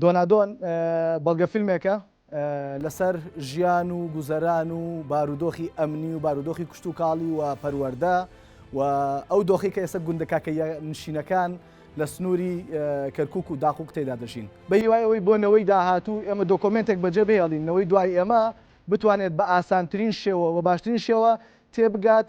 دۆنادۆن بەڵگەفیلمێکە لەسەر ژیان و گوزەران و بارودۆخی ئەمنی و بارودۆخی کشتوکاڵی و پەروەردە و ئەو دۆخەی کە ئێستا گوندە کاکەییەنشینەکان لە سنووری کەرکووک و داقووق تێدا دەژین. بە هیوای ئەوەی بۆ نەوەی داهاتوو ئێمە دۆکۆمێنتێک بەجێ بهێڵین، نەوەی دوای ئێمە بتوانێت بە ئاسانترین شێوە و باشترین شێوە تێبگات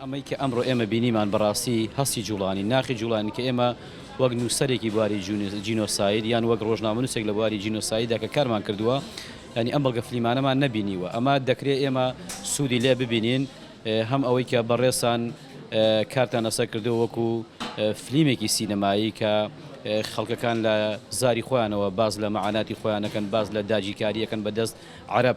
ئەمەی کە ئەمڕۆ ئێمە بینیمان بەڕاستی هەستی جووڵانی ناخی جووڵانی کە ئێمە وەک نووسەرێکی بواری جینۆساید یان وەک ڕۆژنامەنووسێک لە بواری جینۆسایددا کە کارمان کردووە ینی ئەم بەڵگە فلیمانەمان نەبینیوە ئەمە دەکرێت ئێمە سوودی لێ ببینین هەم ئەوەی کە بەڕێسان کارتان لەسەر کردو وەکو فلیمێکی سینەمایی کە خەڵکەکان لە زاری خۆیانەوە باز لە مەعاناتی خۆیانەکەن باز لە داگیرکاریەکەن بەدەست عەرەب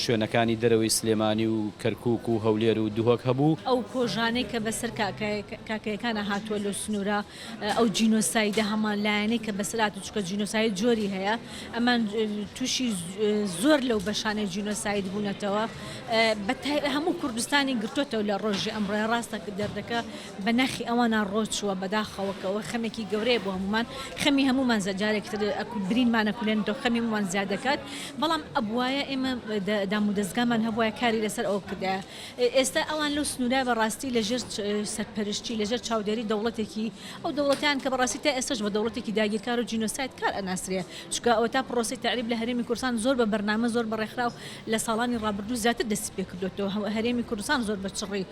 شوێنەکانی دەرەوەی سلێمانی و کەرکوک و هەولێر و دهۆک هەبوو. ئەو کۆژانەی کە بەسەر کاکەیەکانا هاتووە لەو سنوورە، ئەو جینۆسایدە هەمان لایەنەی کە بەسەر هاتووە، چونکە جینۆساید جۆری هەیە، ئەمان تووشی زۆر لەو بەشانەی جینۆساید بوونەتەوە، بە تایبەت هەموو کوردستانی گرتۆتەوە لە ڕۆژی ئەمڕۆ، ڕاستە کە دەردەکە بە ناخی ئەوانا ڕۆ چووە بەداخەوە کە ئەوە خەمێکی گەورەیە بۆ هەموومان خەمی هەموومان زە جارێکی تر ئەکو برینمان ئەکولێنێتەوە خەمی هەموومان زیاد دەکات بەڵام ئەبوایە ئێمە دە دامودەزگامان هەبوایە کاری لەسەر ئەوە بکردایە ئێستا ئەوان لەو سنوورە بە ڕاستی لە ژێر سەرپەرشتی لە ژێر چاودێری دەوڵەتێکی ئەو دەوڵەتەیان کە بە ڕاستی تا ئێستاش بە دەوڵەتێکی داگیرکار و جینۆساید کار ئەناسرێ چونکە ئەوە تا پڕۆسەی تەعریب لە هەرێمی کوردستان زۆر بە بەرنامە زۆر بە ڕێکخراو لە ساڵانی ڕابردوو زیاتر دەستی پێ کردۆتەوە هەرێمی کوردستان زۆر بە چڕی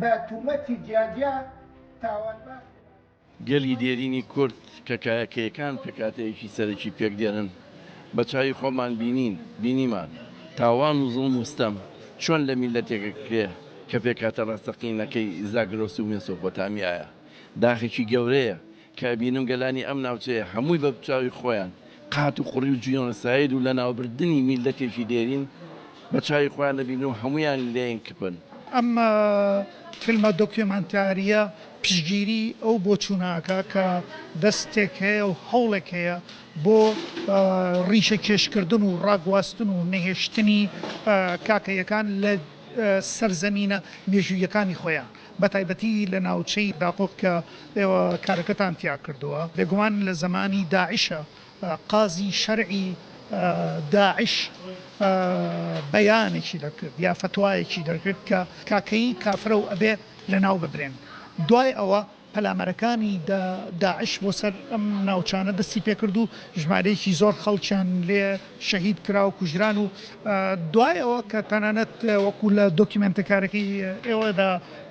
بە تومەتی جیا جیا تاوانبار کران. گەلی دێرینی کورد کە کایەکەیەکان پێکهاتەیەکی سەرەکی پێک دێنن بە چاوی خۆمان بینین بینیمان تاوان و زوڵم و ستەم چۆن لە میللەتێک ئەکرێ کە پێکهاتە ڕاستەقینەکەی زاگرۆس و مێسۆپۆتامیایە داخێکی گەورەیە کە ئەبینم گەلانی ئەم ناوچەیە هەمووی بە چاوی خۆیان قات و قڕی و جینۆساید و لەناوبردنی میللەتێکی دێرین بە چاوی خۆیان ئەبینن و هەموویان لێین کپن. ئەم فیلمە دۆکیۆمانتارییە پشتگیریی ئەو بۆچوونە ئەکا کە دەستێک هەیە و هەوڵێک هەیە بۆ ڕیشەکێشکردن و ڕاگواستن و نەهێشتنی کاکەییەکان لە سەرزەمینە مێژووییەکانی خۆیان. بەتایبەتی لە ناوچەی داقوق کە ئێوە کارەکەتان تیا کردووە، بێگومان لە زەمانی داعشە، قازی شەرعی داعش بەیانێکی دەکرد یا فەتوایەکی دەکرد کە کاکەیی کافرە و ئەبێ لەناو ببرێن، دوای ئەوە پەلامارەکانی داعش بۆ سەر ئەم ناوچانە دەستی پێکرد و ژمارەیەکی زۆر خەڵکیان لێ. شەهید کرا و کوژران و دوای ئەوە کە تەنانەت وەکو لە دۆکیمێنتەکارەکەی ئێوەدا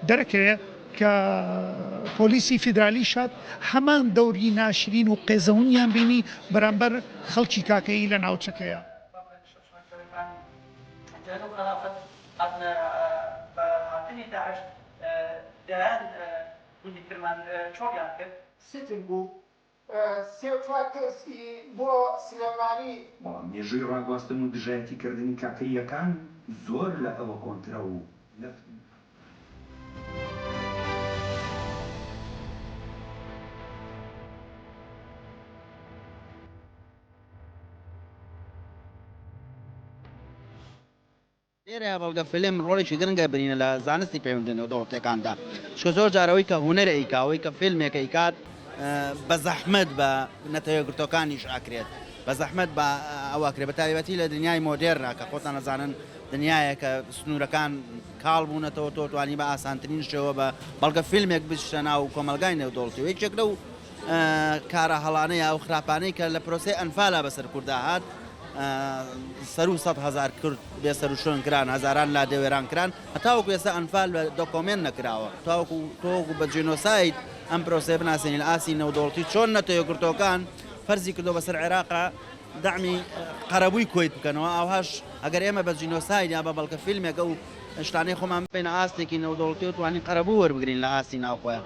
دەرەکەوێ کە پۆلیسی فیدرالی شاد هەمان دەوری ناشرین و قێزەونیان بینی بەرامبەر خەڵکی کاکەیی لە ناوچەکەیا. سێ و چوار کەس ی بۆ سلێمانی. بەڵام مێژووی ڕاگواستن و دژایەتی کردنی کاکەییەکان زۆر لە ئەوە کۆنترە و لە. لێرەیا بەڵگە فیلم ڕۆڵێکی گرنگ ئەبینێ لە زانستی پەیوەندیە نێودەوڵەتیەکاندا چکە زۆر جار ئەوەی کە هونەر ئەیکا ئەوەی کە فیلمێک ئەیکات بە زەحمەت بە نەتەوە یەکگرتوەکانیش ئەکرێت بە زەحمەت بە ئەو ئەکرێت بە تایبەتی لە دنیای مۆدێرنا کە خۆتان ئەزانن دنیایە کە سنوورەکان کاڵ بوونەتەوە تۆ توانی بە ئاسانترین شێوە بە بەڵگە فیلمێک بچتە ناو کۆمەلگای نێودەوڵەتی و یەکێک لەو کارە هەڵانەی و خراپانەی کە لە پرۆسەی ئەنفالا بەسەر کوردا هات سەرو سەد هزار کرد بێ سەروشۆن کران هزاران لا دەوێران کران هەتاوەکو ئێستا ئەنفال بە دۆکۆمێن نەکراوە تاوەکو تۆکو بە جینۆسایت ئەم پرۆسێ بناسیێنین ئاسی نەودۆڵتی چۆن نەتەوە گرتۆکان فەرزی کردو بەسەر عێراقا دامی قەرەبووی کۆیت بکەنەوە ئاهاش ئەگەر ئێمە بە جینۆساید یا بە بەڵکە فیلمێکە و شتانەی خۆمان بین ئاستێکی نەودۆڵتی و توانین قەرەبوو وەربگرین لە ئاستی ناوخۆیان.